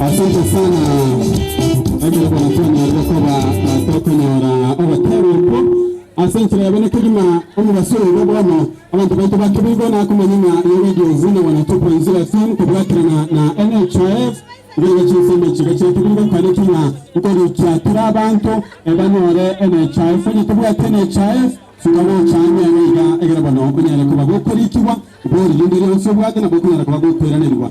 Asante sana ekero kwanakwanyorire koba tokonyora ogotebwa okwo ase enchera yabere kegima omobaso oyo bono Abanto baito ba Kibiko na komanya ng'a ye Radio Zina 102.0 FM kobwakerana na NHIF nigo ne chinsemo chiga chia Kibiko nkwanete ng'a nkorikia tore abanto e banyore NHIF onye tobwate NHIF fuka gocha ang'e iga egere bono onyare koba gokorikigwa bori rinde rionsi obwate nabo okonyara koba gokoiranerigwa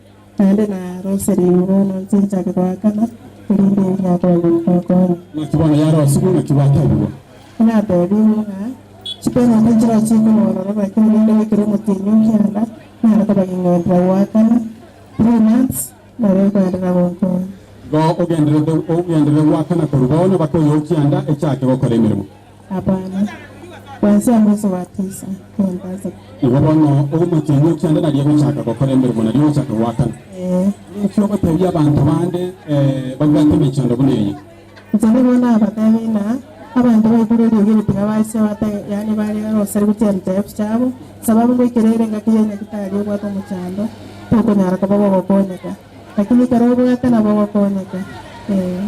Naende na Roseli ime bono inche nchake goakana, erinde erio nakoanye gokokonya. Naki bono yarosigwe, naki gwatebigwa? Natebiwe ng'a chiperembe nchiroche ime bono na naki omorembe bw'ekero omotienyi o kianda nare kobang'ing'erera goakana, three months, nabo ekoenderera gonkonya. Igo ogenderere, ogenderere goakana korwa bono mpaka oyo o kianda echake gokora emeremo. Abana, baase amo ase Watiisa, kogenda ase. Igo bono, ogomotenwa kianda naria gochaka gokora emeremo, nario gochaka goakana. Ee. Naki ogotebia abanto bande, Ee, babwate emechando buna eye? Inche nigo nabatebie ng'a abanto baikire eriogi eri tiga bachia batege, yaani barega gosarigia chiaruchaifu chiabo, esababu ngoikera ere engaki ya nyagitari obwate omochando, tokonyara koba bogokonyeka. Lakini kera obwate nabo ogokonyeka, ee,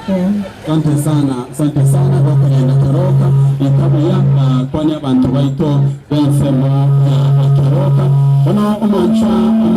ee. Sante sana, sante sana gokorenda keroka, rika buya ah, kwania abanto baito b'ensemo ya ekeroka. Bono omwancha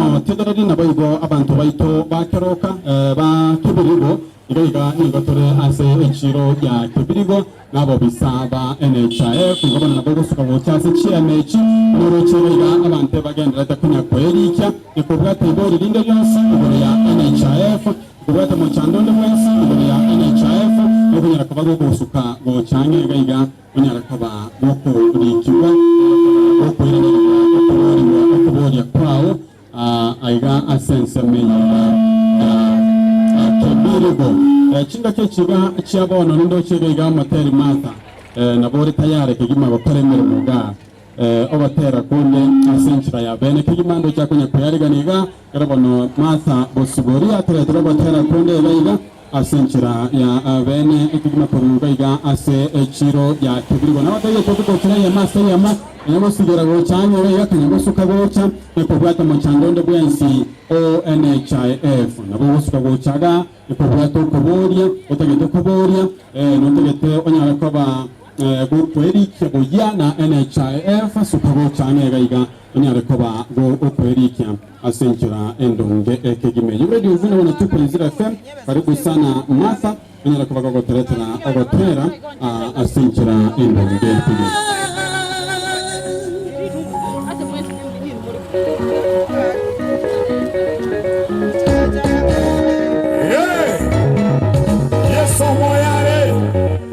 omotegereri naboigo abanto baito ba keroka, eh, ba kebirigo, iga iga nigo tore ase echiiro gia kebirigo. Nabobisa ba enecha eye kwiga bono nabo ogosuka gocha ase chiema echi, noroche boiga abanto ebagendererete konya koerikia, gekobwata ibori rinde rionsi igoro ya enecha eye, gekobwata omochando onde bwensi igoro ya enecha eye, nokonyara koba gogosuka gocha ang'e iga iga onyare koba gokorikigwa, onyare koba gokoiraneria okoboorigwa okoboria kwao, Aa aiga ase ensemo eye ya Kebirigo. Chingaki echiga chia bono nindoche iga iga moteri Martha, eh, nabo ore tayare kegima gokora emeremo iga eh, ogotera konde ase enchera ya bene kegima ndoche akonya koyariga niga, kere bono Martha bosibori ateretwe gotera konde iga iga. Ase enchera ya abene ekegima korwa iga iga ase echiro ya kebirigo, nabatebie totu gochira eyemo ase eyemo, onye gosibera gocha ang'e iga iga tari gosuka gocha na kobwata omochango onde bwensi o NHIF. Nabo ogosuka gocha iga ekobwata okoboria otagete koboria, ee, notagete onyare koba ee, gokwerikia boyia na NHIF, suka gocha ang'e iga iga. onyare koba bo okwerikia ase enchera endonge ekegima eyio. Radio Uvune 102.0 FM, karibu sana Martha, onyare koba gogoteretera ogotera ah, ase enchera endonge ekegima. Yesu omoyo are.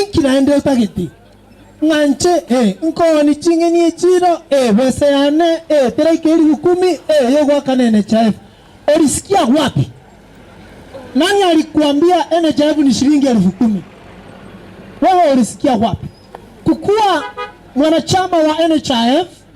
Inki naende otageti? Ng'anche, ee, nkogoni ching'eni echiiro, ee, besa yane, ee, teraika eribu ikumu, ee, y'ogoakana enecha ebe. Orisikia agwo abe? Nani ari kwambia enecha ebe nishiringi eribu ikumu? Bono orisikia agwo abe? Kukua mwanachama wa enecha ebe.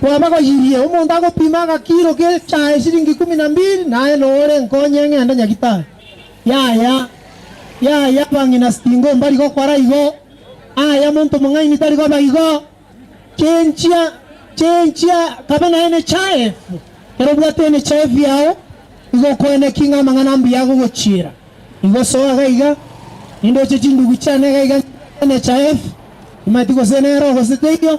Kwabagoyirie, omonto agopima agakiiro g'echae esiringi ikomi na mbiri, naye nore nkonye ng'ende nyagitari? Yaya, yaya, abang'ina sting'omba riga okora igo, yaya, monto omong'aini tari koba igo. Chenchia, chenchia, kabe naye nechae efu. Ekero obwate enechae efu yao, nigo okoena ki ng'a amang'ana ambuya agogochiera? Igo soa iga iga, nindoche chindugu chiane iga iga nchie ng'ende nechae efu. Timanyeti gose nero gose teiyo.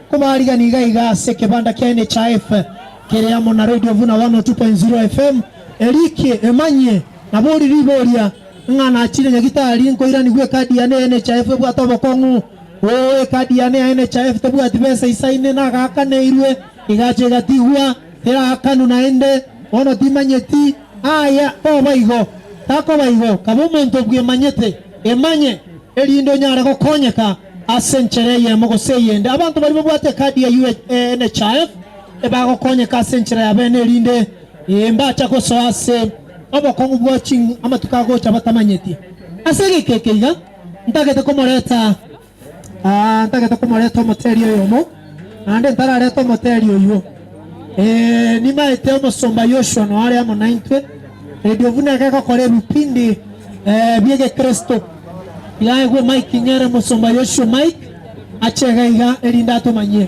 Kobaarigani iga iga ase ekebanda kia NHIF kere amo na Radio Vuna 102.0 FM, Erikie Emanyie nabori riboria, Ng'a nachire nyagitari nkoiranigwe ekadi yane ya NHIF ebwate obokong'u? Oo, ekadi yane ya NHIF tebwati besa isaine, nagaakaneirwe, egacha egatigwa, teraakanu naende, bono timanyeti. Aye, toba igo! Takoba igo, kaba omonto obwemanyete, emanye, erinde onyare gokonyeka ase enchera eyemo gose eyende. Abanto baria babwate ekadi ya UHNHIF ebagokonyeka ase enchera yabeene erinde mbacha gosoa ase obokong'u bwa amatuko agocha batamanyeti. Ase egeka eke iga ntagete komoreta. ntagete komoreta omoteli oyomo, naende ntararete omoteli oyio. Ee, nimaete omosomba Yoshua noo are amo naintwe, erio buna egekokora ebipindi eh, bi'egekristo. Yaegwe Mike Nyere, Omosomba Yoshua Mike ache iga iga, erinde atomanyie.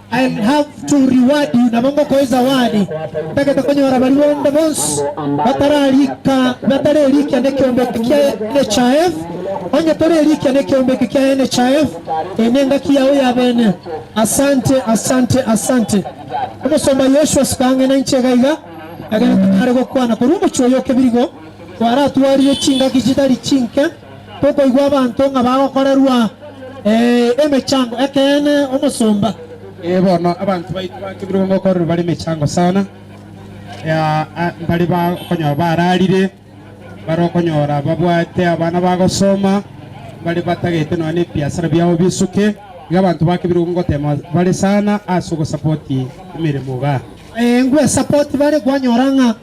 I will have to reward you, nabo ngokoa esawadi. Ntagete konyora baria bonde bonsi batararika batarerikia nekiombeke kia NHIF, onye torerikia nekiombeke kia NHIF, eye nengaki yao yabene. Asante, asante, asante. Omosomba Yoshua Sikang'ina inche iga iga, ekero tonyare gokwana korwa omochie oyo o Kebirigo, kwaratwarire chingaki chitari chinke, Tokoigwa abanto ng'a bagokorerwa emechango ekeene omosomba. Ee, bono abanto baito bakebirwe gokorerwa bare emechango sana, mbare bakonyora bararire, mbare okonyora babwate abana bagosoma, mbare batagete nonya nebiasara biabo bisuke. Igo abanto bakebirwe ngoteema bare sana ase ogosapoti emeremo igaa. Ee, ngwesapoti bare kwanyora ng'a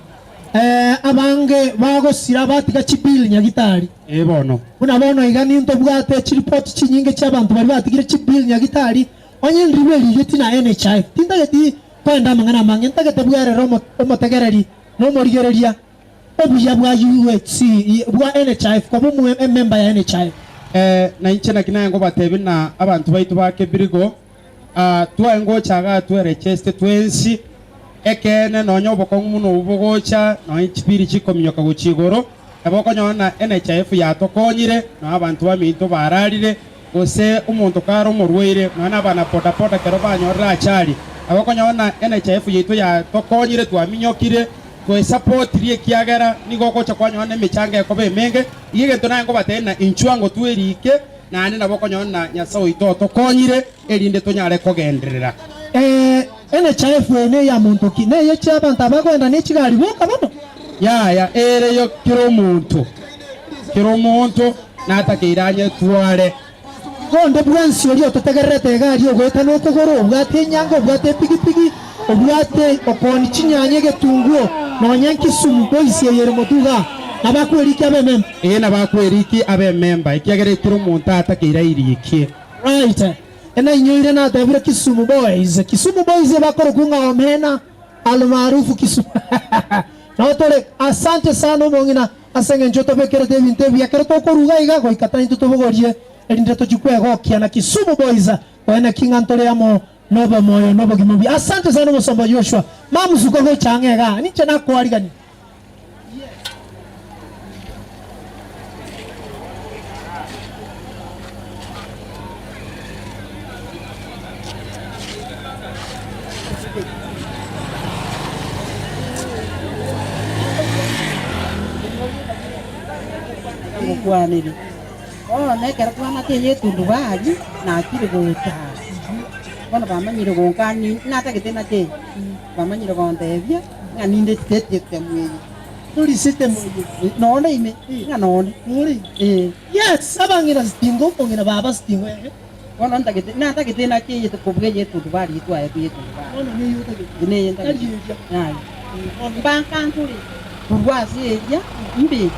Ee, abange bagosira batiga chibill nyagitari. Ee bono. Buna bono iga nintobwate chiripoti chinyinge chi'abanto baria batigire chibill nyagitari, onye enribo erigeti na NHIF. Tintageti koenda amang'ana amange, ntagete bwerere omo, omotegereri, na omorigereria. Obuya bwa UHC, bwa NHIF, koba omo, ememba ya NHIF. Ee, na inche naki naye ngobatebie, na abanto baito ba Kebirigo. Aa, twae ngocha igaa tweregeste twensi. Ekeene, nonya obokong'u buna obo bogocha, nonya chipiri chikominyoka gochia igoro, nabo okonyora ng'a NHIF yatokonyire, nonya abanto baminto baararire, gose omonto kare omorwaire, nonya nabana bodaboda ekero banyorire achari, nabo okonyora ng'a NHIF yaito yatokonyire, twaminyokire, twaesapotirie ekiagera nigo ogocha kwanyora nemechango ekoba emenge. Iga egento naye nkobatebi ng'a inchuo ango twerike. naende nabo okonyora Nyasae oito otokonyire erinde tonyare kogenderera. Ee, enechaefu eye neye ya monto ki? Neye chi'abanto abagoenda ne chigari boka bono? Yaya, ere yo kera omonto, kera omonto natakeire anyetware. Onde bwensi oria ototegererete egari ogoeta nokogoro, obwate enyango, obwate epigipigi, Obwate okoni chinyanya, egetunguo, nonya nkisumu boisi eyere motuga, nabakweriki abememba. Ee, nabakweriki abememba, ekiagera ekero omonto atakeirairikie. Right, enainyoire natebire kisumu boys, kisumu boys ebakorokwa ng'a omena, almaarufu kisumu nao tore. Asante sana omong'ina ase eng'encho otobekerete ebinto ebi ekero tokoruga iga goika tari ntotobogorie erinde tochie kwegokia na kisumu boys, oeneki ng'a ntore amo. Nobomoyo nobogima buya. Asante sana omosomba Joshua. Mamusuka gocha ang'e iga, ninche nakoarigania. Omokwaneri. Bono nekero twang'ata eye etundubari natiri gocha ase inwe, bono bamanyire gonka ani natagete nache ime, bamanyire gontebia ng'a ninde etigeti y'etemu eye. Tori ase etemu eye, nonde ime, ng'a nonde. Nore ime. Ee. Yes, abang'ina sitingo okong'ina baba sitingo ere. Bono ntagete, natagete enaki eye kobua eyetuntu ba riitwa aye bweka, inche neye ntagete, aye. Mbankanchore korwa ase eria mbe.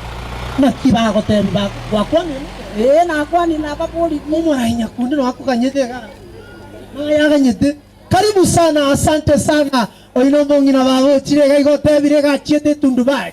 Naki bagoteebia, Bak, gwakwanire? Ee, nakwanire, nababoririe. Omoraai nyakundi nonya akoganyete iga, naye aganyete. Karibu sana, asante sana. Oino mong'ina bagochire iga iga otebire iga achiete etundu baye.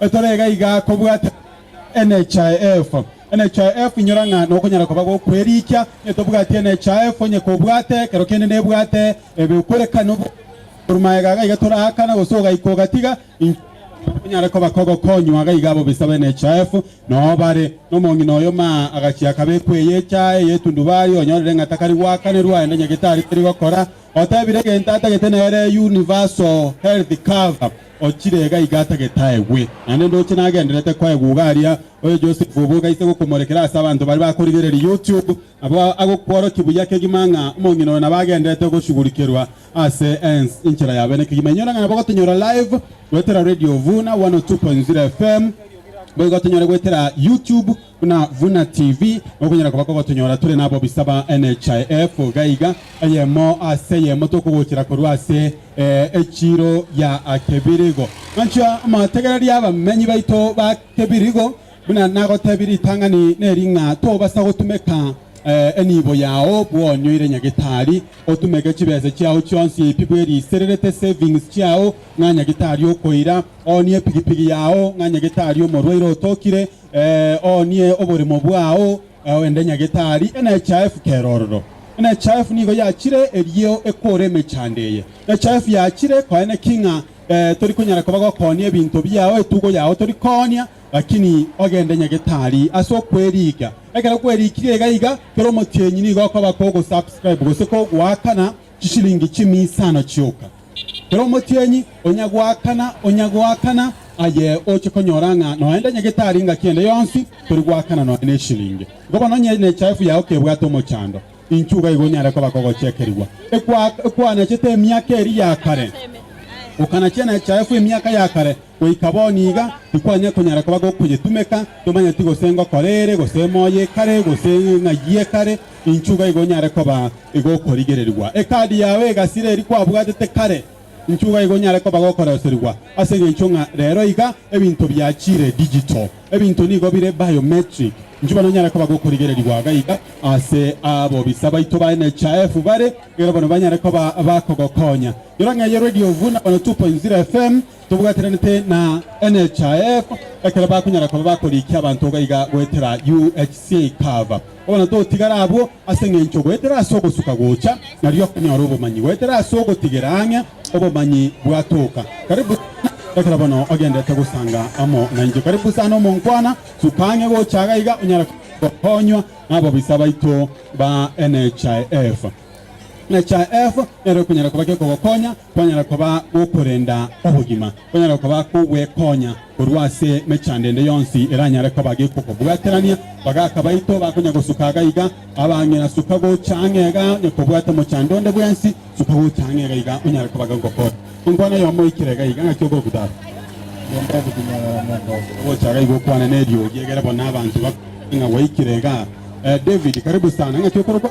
Etoro eye gaiga kobwate NHIF. NHIF inyora ng'a nokonyara koba gokwerikia onye tobwati NHIF onye kobwate ekero kende nebwate ebe okwerekana obwate korwa magega gaiga toraakana gose ogaika ogatiga inche onyare koba kogokonywa gaiga abo bisa ba NHIF noo bare nomong'ina oyo maa agachia akabekwa eye echae eye etundubario onyorire ng'a takari goakanerwa aende nyagetari terigokora Otebire egento atagete nere universal health cover ochire iga iga atagete aegwe. Naende ndoche nagenderete koegwa iga aria oyo Joseph oboke aise gokomorekera ase abanto baria bakorigereria YouTube nabo agokworokia buya kegima ng'a omong'ina oyo nabo agenderete goshugurikerwa ase ense enchera yabe ne kegima. Inyora ng'a nabo gotonyora live goetera Radio Vuna 102.0 FM boigo tonyore goetera YouTube Buna Vuna TV, okonyara koba kogotonyora tore nabobisa ba NHIF gaiga, eyemo ase eyemo tokogochera korwa ase echiro ya Kebirigo. Manchwa motegererie abamenyi baito ba Kebirigo, buna nagotebi ritang'ani neri ng'a tobasa gotumeka enibo yao bwonyoire nyagitari, otumeke chibesa chiao chionsi pi bwerisererete savings chiao ng'a nyagitari okoira, oonie epigipigi yao ng'a nyagitari omorwaire otokire, Oonie oboremo bwao, ende nyagetari, enechaefu kera ororo. Enechaefu nigo yachire erio ekoore emechando eye. Enechaefu yachire koa eneki ng'a tori konyara koba gokoonia ebinto biao, etugo yao tori koonia, lakini ogende nyagetari ase okweriika. Ekero kwerikirie iga iga, kera omotienyi nigo okoba kogo subscribe gose kogoakana. chisilingi chimia isano chioka. Kera omotienyi onyagoakana onyagoakana aye oche konyora ng'a noende anyagete aria engaki ende yonsi tori goakana nonya nesilingi. Igo bono onye nechaefu yao kebwate omochando, inchuo iga igo onyare koba kogochekerigwa. Ekwanachete emiaka eria ya kare, okanachia nechaefu emiaka ya kare goika bono iga, tikwanyare konyara koba gokoyetumeka, tomanyeti gose ngokora ere, gose emoyo ekare, gose eng'ai ekare, Inchuo iga igo onyare koba igokorigererigwa. Ekadi yao egasire eria kwabwatete kare, inchuo iga igo onyare koba gokoroserigwa ase engencho ng'a rero iga ebinto biachire digital. Ebinto nigo bire biometric. Inchuo bono onyare koba gokorigererigwa iga iga ase abobisa baito ba NHIF bare ekero bono banyare koba bakogokonya. Nyora ng'a eye Radio Ovuna 102.0 FM tobwatiranete na NHIF ekero bakonyara koba bakorikia abanto iga iga goetera UHC cover. Bono totigare abwo ase engencho goetera ase ogosuka gocha, nario konyora obomanyi goetera ase ogotigera ang'e obomanyi bwatoka. Karibu sana, ekero bono ogenderete gosanga amo nainche. Karibu sana omonkwana, suka ang'e gocha iga iga onyare gokonywa nababisa baito ba NHIF. NHIF nero ekonyara koba gekogokonya Kwanyara koba gokorenda obogima, kwanyara koba kogwekonya korwa ase emechando ende yonsi eranyare koba gekokobwaterania. Bagaka baito bakonya gosuka iga iga, abang'ina suka gocha ang'e iga, onye kobwate omochando onde bwensi, suka gocha ang'e iga iga, onyare koba gokokora. Inkwana eyomo oikire iga iga, ng'aki ogokutara? Genda ogotinyagara mono. Gocha iga iga okwane neriogi, egere bono abanto bakore ng'a gwaikire iga. Eh, David, karibu sana. Ng'aki okorokwa?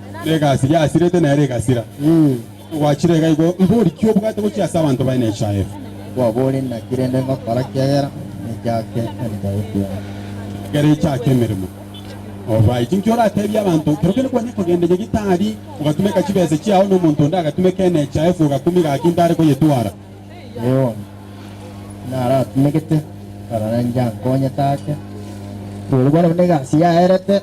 Egasi yasirete nere egasira. Gwachire iga igo, mbori ki obwate gochia ase abanto baye nechaefu? Kwabori naki rende ngokora kiagera ninchake enchaefu yane? Ekero ichaka emeremo, obae chinki orateebie abanto, Kero kende kwanya kogenda nyagitari, ogatumeka chibesa chiao, na omonto onde agatumeka enechaefu, ogakumi gaki ntare koyetwara. Eomi, naratumegete, korende inche ankonye take. Kweri bono buna egasi yaerete.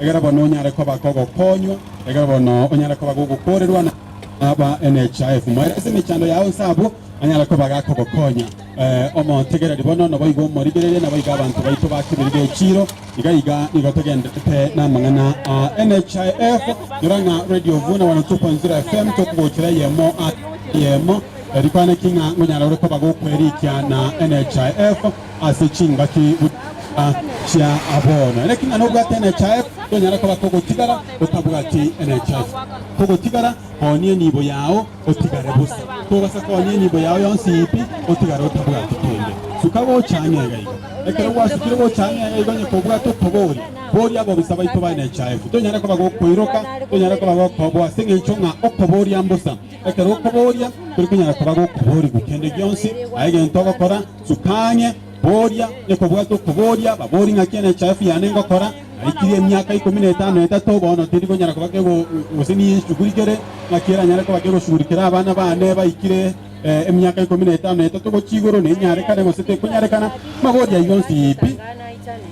Egera bono onyare koba kogokonywa, egera bono onyare koba gogokorerwa na aba NHIF. Moere ase emechando yao inse abwo anyare koba gakogokonya. Eh, omotegereri bono naboigo omorigererie naboigo abanto baito ba keberi b'echiiro iga iga nigo togenderete namang'ana a NHIF nyora ng'a Radio Vuna 102.0 FM tokogochera eyemo a eyemo erikwaneki ng'a ngonyara ore koba gokwerikia na NHIF ase chingaki buna chia bono. Naki ng'a nobwate enecha eye, tonyare koba togotigara otabwati enecha eye. Togotigara koonia enibo yao otigare bosa. Togasa koonia enibo yao yonsi ii pi, otigare otabwati kende. Suka gocha ang'e iga igo. Ekero gwasukire gocha ang'e iga igo, onye kobwate otoboria, boria ababisa baito b'enecha efu. Tonyare koba gokoiroka, tonyare koba gokoobwa ase eng'encho ng'a okoboria mbosa. Ekero okoboria, tari konyara koba gokoborigwa kende gionsi, aye egento ogokora, Sukania, Boria, Nekobwata okoboria ababori ng'aki enechaifu yane ngokora, naikire emiaka ikomi na etano na etato, bono tindi konyara koba kego, gose niyesugurigere ng'aki eranyare koba kegosugurikera abana bane baikire eh, emiaka ikomi na etano na etato gochia igoro, nenyarekane gose tekonyarekana? Mabori ayio onsi pi,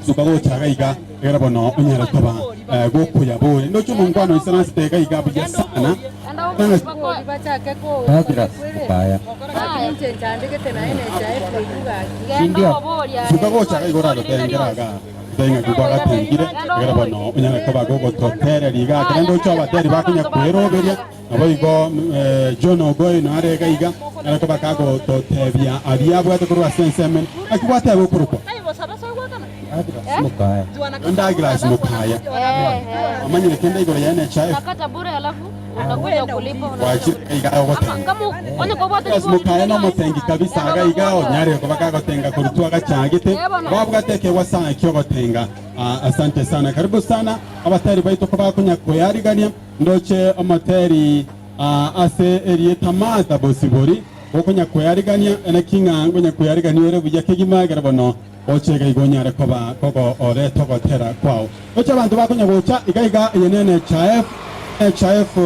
suka gocha gaiga. Egera bono onyare koba gokuya boe ndoche omonkwano oise nase taiga iga buya sana suka gocha iga igoro agotengera aga taiga ng'a kigwa gatengire egera bono onyare koba gogototereria iga kere ndoche obateri bakonya kweroberia Naboigo John Ogoi nare iga iga ere koba kagototebia aria abwate korwa ase ensemo ene, naki gwateba okorokwa Douglas Mukaya. Omanyire kende igoro yaye nechae. Gwachire iga iga ogotenga. Douglas Mukaya nomotengi kabisa iga iga onyare koba kagotenga korwa twagachagete. Babwate ekegwa sana ekiogotenga. Ah, asante sana. Karibu sana abatari baito koba konya koyarigania. Ndoche omoteri aa ase erieta Martha bosibori, gokonyakweyarigania, naki ng'a ngonyakweyarigania ore buya kegima, ekero bono oche iga igo onyare koba kogooreta ogotera kwao. Ndoche abanto bakonya gocha iga iga, eye ne NHIF, NHIF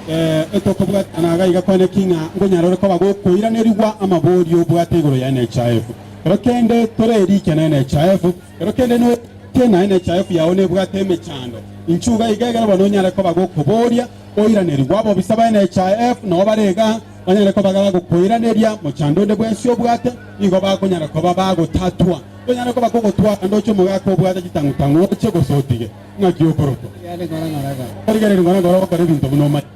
eh, etokobwatana na iga iga kwane naki ng'a nkonyare ore koba gokoiranerigwa amaborio obwate igoro ya NHIF. Ekero kende tore erikia na NHIF, Ero kende noetie naye nechayoku yao nebwate emechando, inchuo iga iga egere bono onyare koba gokoboria, oiranerigwe. Abobisa baye nechaefu nao bare igaa, banyare koba gagokoiraneria mochando onde bwensi obwate, nigo bakonyara koba bagotatwa. Tonyare koba kogotwara ndoche omogaka obwate chitang'u-tang'u oche gose otige. Ng'aki okorokwa. Origererie ng'ora ng'ora ogokora ebinto buna omanye.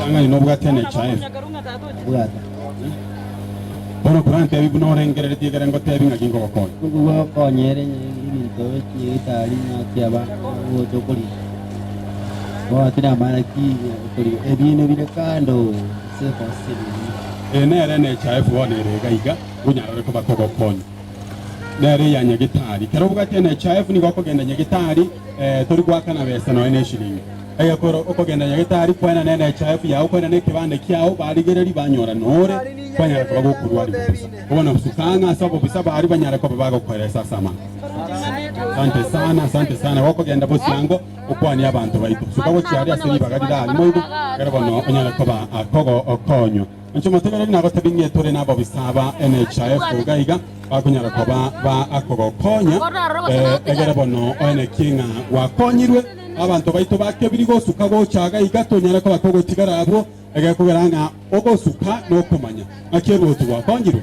Tang'ani nobwate emecha eye. Bono korantebie buna orengereretie ekero ngotebi ng'aki nkogokonya. Eye nere emecha yaye bono ere iga iga, onyarore koba kogokonya. nere ya nyagetari. Kero obwate NHIF nigo okogenda nyagetari eh, tori gwakana besa noe neshilingi. Egekoro okogenda nyagetari kwena ne NHIF yao kwena ne kebande kiao barigereri banyora nore kwanyara koba gokorwari bobisa. Obona gosuka ang'a ase obobisa bari banyare koba bagokoeresa ase amang'ana. Asante sana, asante sana. Gokogenda bosiango okwanie abanto baito. Suka gochia aria ase ribaga rirarimo igo, kero bono onyare koba akogo okonywa. Inche omotemereri nagotebie ng'a etware nabobisa aba NHIF iga iga bakonyara koba ba akogokonya. Eh, egere bono oeneki ng'a gwakonyirwe abanto baito bakebiri gosuka gocha iga iga tonyare koba togotigara abwo egekogera ng'a ogosuka nokomanya ng'aki eruoti gwakonyirwe.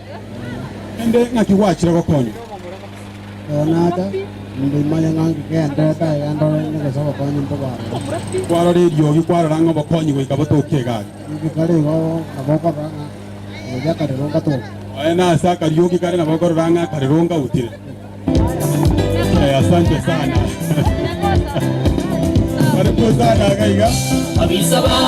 Naende ng'aki gwachire gokonya? Leonata, Nimbe imanye ng'a ngegende ndagera ndorerigwe gose obokonyi imbe bwarorire. Kwarora eriogi, kwarora ng'a obokonyi goika botoke egari. Eriogi kare igo nabo okorora ng'a eriogi akarerunga toke. Aye nase akariogi kare nabo okorora ng'a akarerunga utire. Eh, asante sana. Karibu sana iga iga. Abisa ba